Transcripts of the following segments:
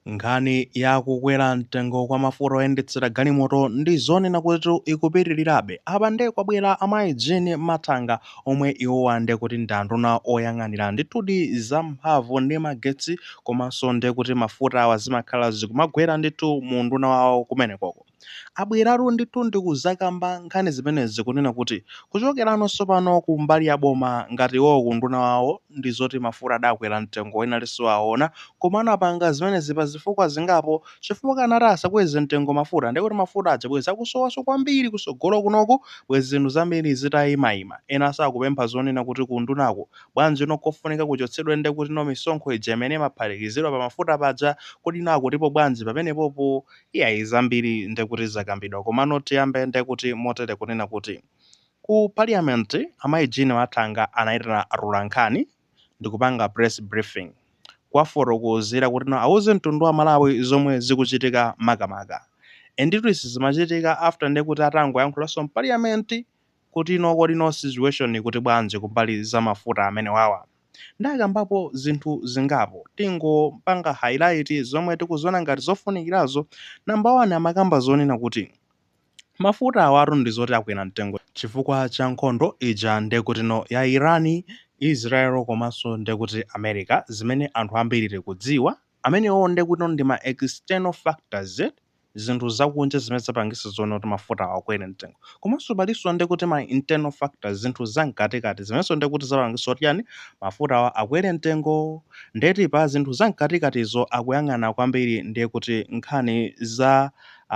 Nkhani ya kukwera mtengo kwa mafuta oyendetsera galimoto ndi zonena kuti ikupitirirabe. Apa nde kwabwera amayi Jean Mathanga omwe iwowa nde kuti ndi anduna oyang'anira ndithudi za mphamvu ndi magetsi komanso nde kuti mafutawa zimakhala zikumagwera ndithu mu unduna wawo kumenekoko. abweratu ndithu ndi kuzakamba nkhani zimenezi kunena kuti kuchokerano tsopano ku mbali ya boma ngati iwowo ku unduna wawo ndi zoti mafuta adakwera mtengo ena ali siwaona koma anapanga zimenezi pa zifukwa zingapo chifukwa akanati asakweze mtengo mafuta ndiye kuti mafuta aja bwezi akusowanso kwambiri kutsogolo kunoku bwezi zinthu zambiri zitayimayima. Enanso akupempha zonena kuti ku undunaku bwanjino kofunika kuchotsedwa ndiye kutino misonkho ija imene imaphatikizidwa pa mafuta paja kodi no akutipo bwanji pamenepopo Iyayi zambiri ndekuti zakambidwa komano tiyambe ndekuti motere kunena kuti ku parliament amayi Jean Mathanga anaitana atolankhani ndikupanga press briefing kuwafotokozera kuti no awuze mtundu wa Malawi zomwe zikuchitika makamaka anditu izi zimachitika after ndekuti atangoyankhulanso mparliament kutino kodino situation ikuti bwanji kumbali za mafuta amenewawa nde akambapo zinthu zingapo tingopanga highlight zomwe tikuziona ngati zofunikirazo number 1 amakamba zonena kuti mafuta awatu ndizoti akwera mtengo chifukwa cha nkhondo ija ndekutino ya Iran, Israel komanso ndekuti America zimene anthu ambiri tikudziwa amenewawo ndekutino ndi ma external factors eti. zinthu zakunja zimene zapangisa zonena kuti mafutawa akwere mtengo komanso palinso ndiye kuti ma internal factors, zinthu za mkatikati zimenenso ndiye kuti zapangisa kuti chani mafutawa akwere mtengo ndiye ti pa zinthu za mkatikatizo akuyang'ana kwambiri ndiye kuti nkhani za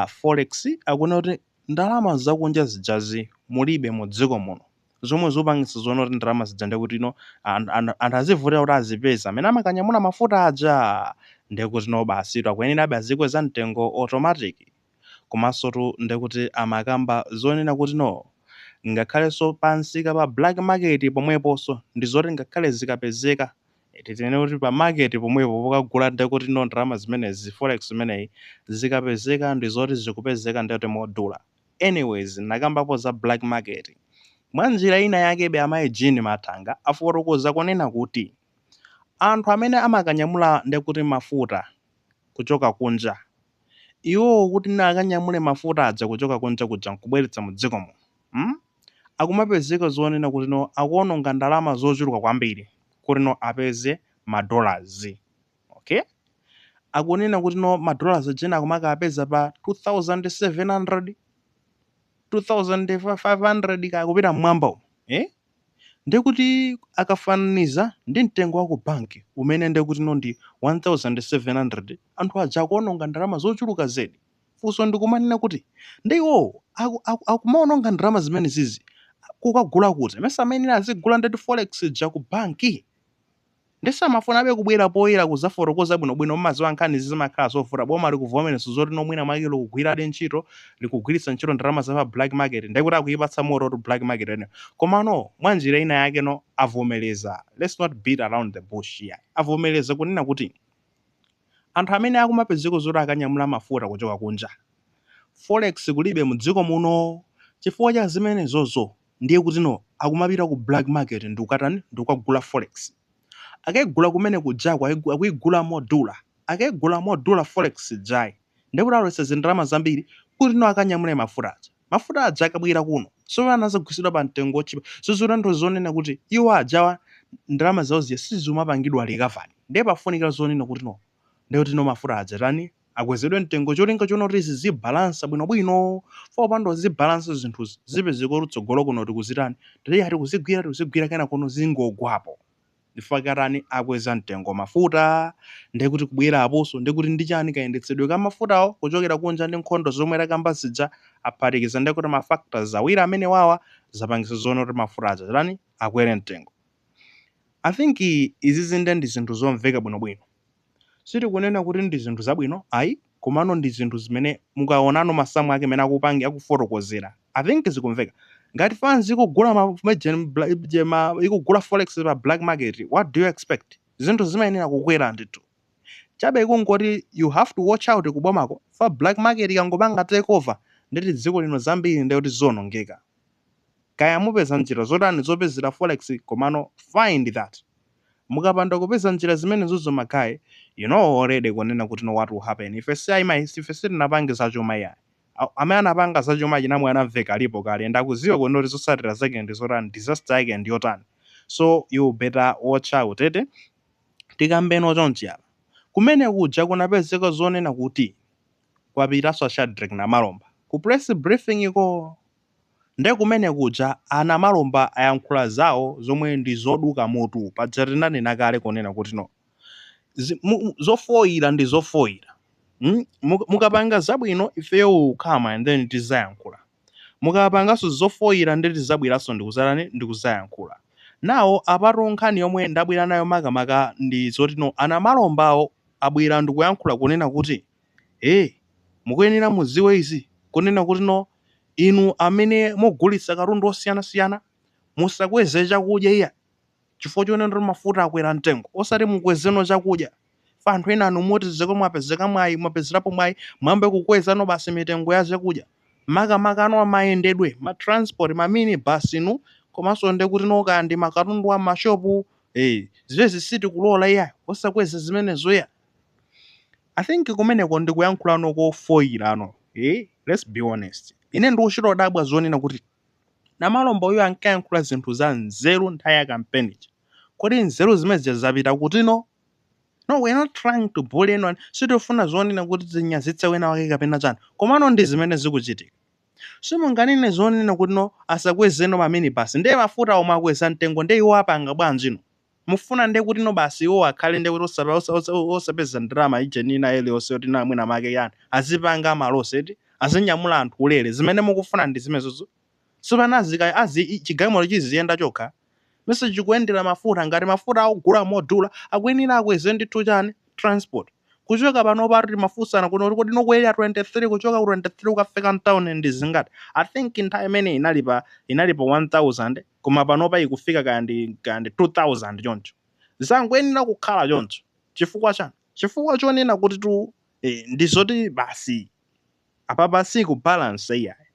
Forex akuona kuti ndalama zakunja zijazi mulibe mu dziko muno. zomwe zikupangitsa zonena kuti ndalama zija ndiye kuti no an- an- anthu azivutikira kuti azipeza amene amakanyamula mafuta aja ndiye kuti no basitu akuyenerabe azikweza mtengo automatic komanso tu ndiye kuti amakamba zonena kuti no ngakhalenso pansika pa black market pomweponso ndi zoti ngakhale zikapezeka eti tinene kuti pa market pomwepo pokagula ndiye kuti no ndalama zimenezi forex imeneyi zikapezeka ndi zoti zikupezeka ndiye kuti modula Anyways, anakambapo za black market mwa njira ina yakebe amayi Jean Mathanga afotokoza kunena kuti anthu amene amakanyamula nde kuti mafuta kuchoka kunja iwowo kuti no akanyamule mafuta aja kuchoka kunja kuja nkubweretsa mu dziko muno mm akumapezeka zonena kuti no akuononga ndalama zochuluka kwambiri kuti no apeze ma dollars. Okay akunena kuti no ma dollars aja ena akumakapeza pa 2700 2500 kaya kupita mmwamba umo eh ndekuti akafananiza ndi mtengo wa ku bank umene ndekuti no ndi 1700 anthu aja akuononga ndalama zochuluka zedi funso ndikumanena kuti ndiye iwowo aku- aku- akumaononga ndalama zimene zizi kukagula kuti mesa amene azigula ndeti forex ija ku banki Nde samafunabe kubwera poyera kuzafotokoza bwino bwino mumaziwa nkhani izi zimakhala zovuta boma likuvomereza zoti no mwina mwake likugwiradi ntchito likugwiritsa ntchito ndalama za pa black market nde kuti akuyipatsa moto tu black market imeneyo koma no mwanjira ina yake no avomereza let's not beat around the bush iyayi avomereza kunena kuti anthu amene akumapezeka zoti akanyamula mafuta kuchoka kunja forex kulibe mdziko muno chifukwa cha zimenezozo Ndiye kutino akumapita ku black market ndikukatani ndikukagula forex. Akaigula kumene kujako aigu akuigula modula. Akaigula modula forex ijayi ndiye kuti alowetsa zindalama zambiri kuti no akanyamule mafuta aja. Mafuta aja akabwera kuno so pano azagulitsidwa pa mtengo wotchipa. So zikutanthauza zonena kuti iwo ajawa ndalama zawo zija sizumapangidwa recovered. Ndiye pafunika zonena kutino Ndiye kuti no mafuta aja atani? Akwezedwe mtengo cholinga chonena kuti zizibalansa bwinobwino. Chifukwa popanda kuzibalansa zinthuzi, zipezeka kuti kutsogolo kuno tikuzitani? Ndiye tikuzigwira tikuzigwira kenakono zingogwapo. Chifukwa chake atani? Akweza mtengo mafuta. Ndiye kuti kubwera aposo ndiye kuti ndi chani? Kayendetsedwe ka mafutawo kuchokera kunja ndi nkhondo zomwe takamba zija aphatikiza ndiye kuti ma factors awiri amenewawa zapangitsa zonena kuti mafuta aja atani? Akwere mtengo. I think izizi nde ndi zinthu zomveka bwinobwino. Sitikunena kuti ndi zinthu zabwino ayi komano ndi zinthu zimene mukaonano masamu ake mene akupangi akufotokozera I think zikumveka. Ngati fans ikugula ma ma ikugula forex pa black market what do you expect? Zinthu zimayenera kukwera ndithu. Chabe kungoti you have to watch out ku bomako chifukwa black market ikangopanga take over ndeti dziko lino zambiri ndekuti zionongeka. Kaya mupeza njira zotani zopezera forex komano find that mukapanda kupeza njira zimenezozo ma guy you know already kunena kutino what will happen ife si ayi mai ife sitinapange zachuma iyayi Aw, amene anapanga zachuma achina Mwanamvekha alipo kale and akuziwa kunena kuti zosatira zake ndi zotani disaster yake ndi yotani so you better watch out eti tikambeno chonchi apa kumene kuja kunapezeka zonena kuti Kwapitanso a Shadric Namalomba ku press briefing-ko nde kumene kuja a Namalomba ayankhula zawo zomwe ndi zoduka mutu paja tinanena kale kunena kuti no zi mu zofoira ndi zofoira mm muka mukapanga zabwino ifeyo we will come and then tizayankhula mukapanganso zofoira nde tizabweranso ndikuzatani ndikuzayankhula nawo apatu nkhani yomwe ndabwera nayo makamaka ndi zoti no a Namalomba wo abwera ndikuyankhula kunena kuti Eeh! Mukuyenera mudziwe izi kunena kuti no inu amene mugulitsa katundu osiyanasiyana musakweze chakudya iyayi chifukwa chonena kuti mafuta akwera mtengo osati mukwezeno chakudya chifukwa anthu enanu moti zoti mwapezeka mwayi mwapezerapo mwayi mwayamba kukwezano basi mitengo ya zakudya makamakano mayendedwe ma transport ma mini bus inu komanso nde kuti no kaya ndi makatundu a m'mashopu eeh! Zimenezi sitikulola iyayi osakweza zimenezo iyayi. I think kumeneko ndi kuyankhulano kofoyirano eh? Let's be honest. Ine ndikuchita kudabwa zonena kuti Namalomba uyu ankayankhula zinthu za nzeru nthawi ya kampeni ija. Kodi nzeru zimene zija zapita kuti no? No, we're not trying to bully anyone. Sitifuna zonena kuti tinyazitse wina wake kapena chani. Komano ndi zimene zikuchitika. Simunganene zonena kuti no asakwezeno maminibasi. Ndiye mafuta omwe akweza mtengo ndiye iwo apanga bwanji no? Mufuna nde kuti no basi iwowo akhale nde kuti osa osa osa osapeza ndalama ijeni ina iliyonse yoti na mwina make yani azipanga ma loss eti? Azinyamula anthu ulere? Zimene mukufuna ndi zimenezo? Sopano azika azi i chigalimoro chiziyenda chokha? Mesa chikuyendera mafuta ngati mafuta akugula modula akuyenera akweze ndithu chani? Transport. Kuchoka panopatu timafunsana kunena kuti kodi nokwera 23 kuchoka ku 23 kukafika mtown ndi zingati? I think nthawi imeneyi inali pa inali pa 1000. koma panopa ikufika kaya ndi kaya ndi 2000 choncho zangoyenera kukhala choncho chifukwa chani chifukwa chonena kutitu eh, ndi zoti basi apapa si ku balance iyayi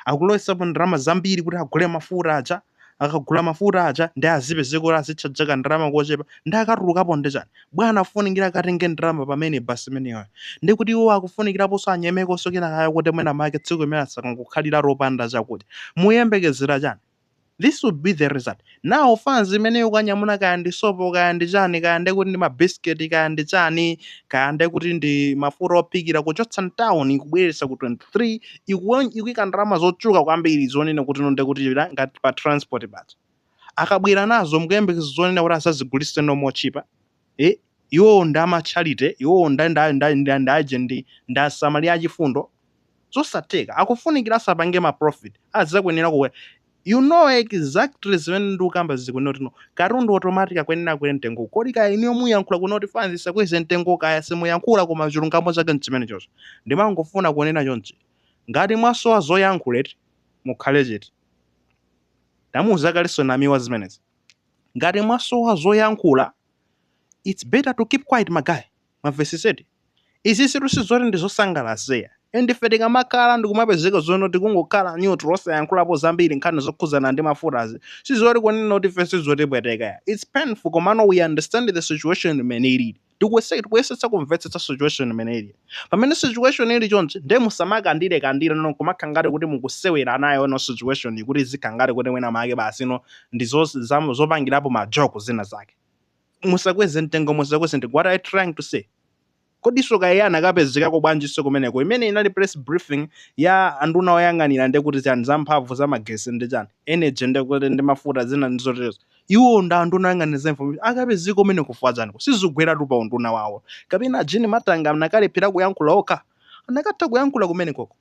akulowesapo ndalama zambiri kuti agule mafuta aja akagula mafuta aja ndi azipezeka kuti azitchaja ka ndalama kochepa ndi akatulukapo ndi chani bwana afunikira akatenge ndalama pamene basi imeneyo ndi kuti iwo akufunikiraponso anyemekonso kena kake kuti mwina make tsiku imene asakangokhalira lopanda chakudya muyembekezera chani this would be the result now fans imene ikukanyamula kaya ndi sopo kaya ndi chani kaya ndekuti ndi mabisiketi kaya ndi chani kaya ndekuti ndi mafuta ophikira kuchotsa mtown ikubweretsa ku 23 ikuwe- ikuyika ndalama zochuluka kwambiri zonena kuti no ndekuti la- ngati pa transport basi akabwera nazo mukuyembekeza zonena kuti azazigulitse no motchipa Eh, iwowo ndi a ma charity, iwowo nda, nda, nda, nda, ndi agent, ndi asamali achifundo. Zosatheka. Akufunikira asapange ma profit. Akuyenera akwe. You know exactly zimene ndikukamba zikunena kuti no. Katundu automatic akuyenera akwere mtengo. Kodi kaya inuyo muyankhula kunena kuti fans isakweze mtengo kaya simuyankhula koma chilungamo chake nchimenechocho. Ndimangofuna kunena chonchi. Ngati mwasowa zoyankhula eti, mukhale chete. Ndamuuza kalenso Namiwa zimenezi. ngati mwasowa zoyankhula its better to keep quiet ma guy mwamvesetsedi izisitu sizoti ndizosangalatsa ayi and ife tikamakhala ndikumapezeka zonena kuti tikungokhala neutral osayankhulapo zambiri nkhani zokhuzana ndi mafutazi sizoti kunena kuti ife sizotipweteka ayi its painful komano we understand the situation mmene ilili. Tikuyesetsa tikuyesetsa kumvetsetsa situation mmene ilili. Pamene situation ili chonchi ndiye musamakandire kandire no kumakha ngati kuti mukusewera nayo no situation iyi kuti izikha ngati kuti mwina mwake basi no ndi zo- za- zopangirapo ma joke zina zake. Musakweze mtengo musakweze mtengo. What are you trying to say? kodiso kaye anakapezekako bwanjinso kumeneko imene inali press briefing ya anduna oyang'anira ndekuti chani za mphamvu za magesi ndi chani energy ndekuti ndi mafuta zina ndi zoterezo Iwowo ndi anduna oyang'anira za information akapezeka kumeneko kufuna chani? Izo sizikugweratu pa unduna wawo? Kapena a Jean Matanga anakalephera kuyankhula okha? Anakatha kuyankhula kumenekoko.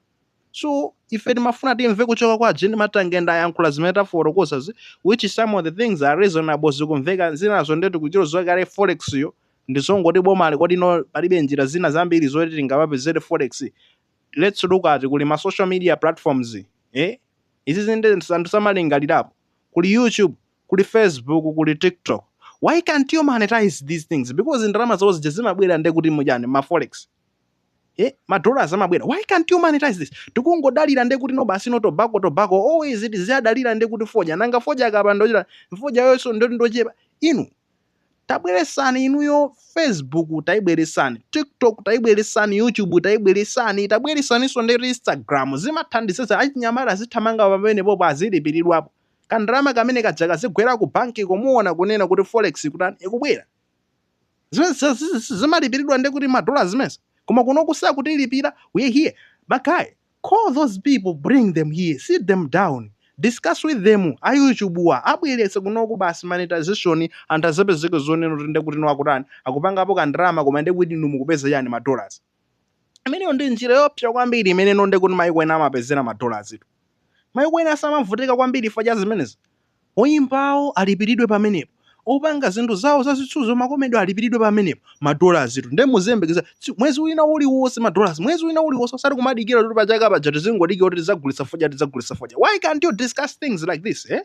So ife timafuna timve kuchoka kwa a Jean Matanga and ayankhula zimene tafotokozazi which some of the things are reasonable zikumveka zinazo nde tikudziwa kale forex yo ndi zongoti bomali kodi no palibe njira zina zambiri zoti tingapezere forex lets look at kuli ma social media platforms eh izizi nde anthu samalingalirapo. kuli youtube kuli facebook kuli tiktok why can't you monetize these things because ndalama zawo zija zimabwera nde kuti muchani ma forex eh ma dollars amabwera why can't you monetize this tikungodalira nde kuti no basi no tobacco tobacco always tiziyidalira nde kuti fodya nanga fodya akapanda kuchita fodya yonso ndi wochepa inu tabweresani inuyo facebook taibweresani tiktok taibweresani youtube taibweresani tabweresaninso ndi instagram zimathandiza achinyamata azithamanga pamenepopo azilipiridwapo kandalama kamene kaja kazigwera ku banki kumaona kunena kuti forex ikutani ikubwera zimene zi- zi- zi- zimalipiridwa ndi kuti madola zimenezi koma kuno kusakutilipira we here ma guy Call those people bring them here sit them down discuss with them a YouTube-wa abweretse kunoko basi monetization anthu azapezeke zonena kuti ndekuti no akutani akupangapo ka ndalama koma ndekuti inu mukupeza chani ma dollars imeneyo ndi njira yoopsa kwambiri imene no ndekuti maiko ena amapezera ma dollars tu maiko ena samavutika kwambiri chifukwa cha zimenezi Oyimbawo alipilidwe pamenepo, opanga zinthu zawo za zitsuzo ma comedy alipilidwe pamenepo, ma dollars tu nde muziyembekezera mwezi wina uliwonse ma dollars mwezi wina uliwonse osati kumadikira kuti pa chaka paja tizingodikira kuti tidzagulitsa fodya tidzagulitsa fodya why can't you discuss things like this eh?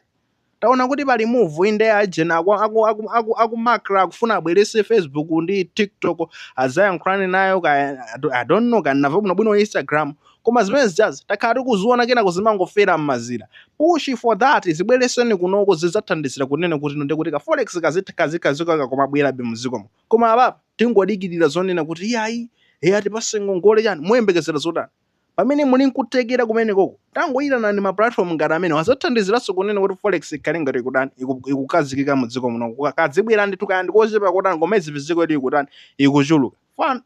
Taona kuti pali move ina ajena aku, aku, aku, aku, aku Macra akufuna abweretse Facebook ndi TikTok azayankhulane nayo kaya I don't know kaya nava bwino bwino Instagram koma zimene zijazi takhala tikuziona kenako zimangofera mmazira push for that zibweretseni kunoko zidzathandizira kunena kuti ino ndikuti ka forex kazitha kazikaziko kakomabwerabe muzikomo koma apapa tingodikirira zonena kuti iyayi atipatse ngongole chani moyembekezera zotani pamene muli nkuthekera kumene koko tangoyitanani ma platform ngati amenewa azathandiziranso kunena kuti forex ikhale ngati ikutani iku- ikukazikika mudziko muno kadzibwera ndithu kaya ndikochepa kotani koma izivizi kuti ili ikutani ikuchuluka Fan-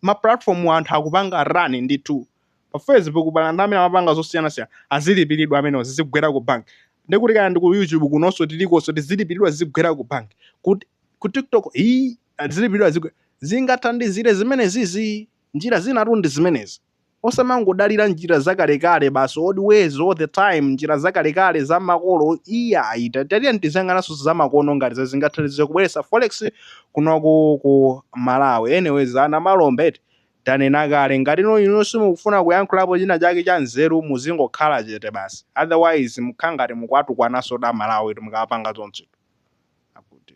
ma platform-wa anthu akupanga run ndithu pa facebook pali anthu amene amapanga zosiyanasiyana azilipilidwa amenewa zizigwera ku bank ndekuti kaya ndi ku youtube kunonso tilikonso tizilipilidwa zizigwera ku bank kut ku tiktok ii azilipilidwa zizigwe- zingathandizire zimenezizi njira zinatu ndi zimenezi Osamangodalira njira zakalekale basi old ways all the time njira zakalekale za makolo iyayi ta- tatiyeni tiziyang'ananso zamakono ngati za zingathandize kubweretsa forex kunoko ku malawi anyways ana malombe eti tanena kale ngati ino inu simukufuna kuyankhulapo china chake cha nzeru muzingokhala chete basi otherwise mukhala ngati mukuwatukwananso aMalawi tu mukapanga zonse akuti